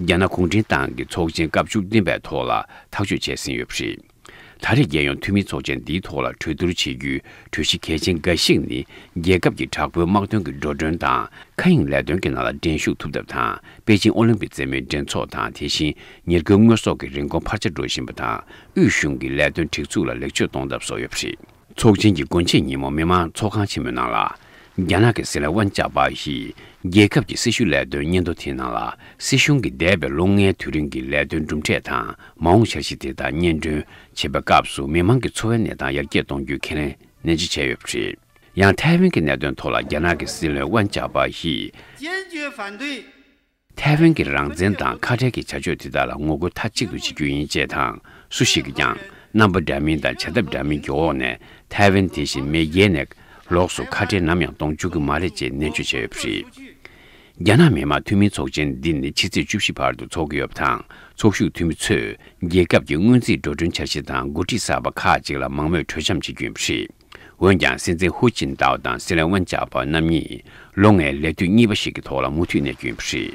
རྒྱ་ནག་གུང་ཁྲན་ཏང་གི་ཚོགས་ཆེན་སྐབས་བཅུ་བདུན་པའི་ཐོག་ལ་ཐག་གཅོད་བྱས་ཟིན་ཡོད་པ་རེད། ད་རེས་རྒྱལ་ཡོངས་འཐུས་མིའི་ཚོགས་ཆེན་འདིའི་ཐོག་ལ་གྲོས་བསྡུར་བྱེད་རྒྱུའི་གྲོས་གཞི་གལ་ཆེན་འགའ་ཞིག་ནི་རྒྱལ་ཁབ་ཀྱི་དྲག་པོའི་དམག་དོན་གྱི་འགྲོ་གྲོན་དང་མཁའ་དབྱིངས་ལས་དོན་གྱི་ནང་ལ་འགྲན་ཞུགས་ཐུབ་ཐབས་དང་པེ་ཅིང་ཨོ་ལིམ་པིག་རྩེད་མོའི་འགྲན་ཚོགས་དང་དེ་བཞིན་ཉེར་མཁོའི་དངོས་ཟོག་གི་རིན་གོང་འཕར་ཆ་འགྲོ་བཞིན་པ་དང་དབུས་གཞུང་གི་ལས་དོན་སྒྲིག་འཛུགས་ལ་ལེགས་བཅོས་གཏོང་ཐབས་སོགས་ཡོད་པ་རེད། ཚོགས་ཆེན་གྱི་དགོན་ཆེན་ཉིན་མོ་མི་མང་ཚོགས་ཁང་ཆེན་མོའི་ནང་ལ། རྒྱ་ནག་གི་སྲིད་བློན་དབང་ཅག་པ་ཞིས་རྒྱལ་ཁབ་ཀྱི་སྲི་ཞུ་ལས་དོན་སྙན་ཐོ་དེའི་ནང་ལ་སྲིད་གཞུང་གི་འདས་པའི་ལོ་ལྔའི་དུས་རིང་གི་ལས་དོན་གྲུབ་འབྲས་དང་མ་འོངས་འཆར་གཞི་དེ་དག་སྙན་སྒྲོན་བྱེད་པའི་སྐབས་སུ་མི་མང་གི་འཚོ་བའི་གནས་སྟངས་ཡར་རྒྱས་གཏོང་རྒྱུའི་ཁས་ལེན་ནན་གྱིས་བྱས་ཡོད་པ་རེད། ཡང་ཐའེ་ཝན་གྱི་གནད་དོན་ཐོག་ལ་རྒྱ་ནག་གི་སྲིད་བློན་དབང་ཅག་པ་ཞིས། སྤྱིར་བརྗོད་པ་འདིས་ཐའེ་ཝན་གྱི་རང་བཙན་དང་ཁ་བྲལ་གྱི་བྱ་སྤྱོད་དེ་དག་ལ་ངོ་རྒོལ་མཐའ་གཅིག་ཏུ་བྱེད་རྒྱུ་ཡིན་ཅེས་དང་སུ་ཞིག་གིས་ཀྱང་རྣམ་པ་འདྲ་མིན་དང་བྱ་ཐབས་འདྲ་མིན་གྱི་འོག་ནས་ཐའེ་ཝན་དེ་བཞིན་མེས་རྒྱལ་ནས་ལོགས་སུ་ཁ་བྲལ་ནམ་ཡང་གཏོང་བཅུག་གི་མ་རེད་ཅེས་ནན་བརྗོད་བྱས་ཡོད་པ་རེད། རྒྱ་ནག་མི་དམངས་འཐུས་མིའི་ཚོགས་ཆེན་འདི་ནི་ཕྱི་ཚེས་བཅུ་བཞི་བར་དུ་འཚོག་གི་ཡོད་པ་དང་ཚོགས་ཞུགས་འཐུས་མི་ཚོས་རྒྱལ་ཁབ་ཀྱི་སྔོན་རྩིས་འགྲོ་གྲོན་འཆར་གཞི་དང་འགོ་ཁྲིད་གསར་པ་ཁག་ཅིག་ལ་མང་མོས་གྲོས་འཆམ་བྱེད་རྒྱུ་ཡིན་པ་རེད། འོན་ཀྱང་སྲིད་འཛིན་ཧུའུ་ཅིན་ཏའོ་དང་སྲིད་བློན་ཝན་ཅཱ་པཱ་རྣམ་གཉིས་ལོ་ལྔའི་ལས་དུས་གཉིས་པ་ཞིག་གི་ཐོག་ལ་མུ་མཐུད་གནས་རྒྱུ་ཡིན་པ་རེད།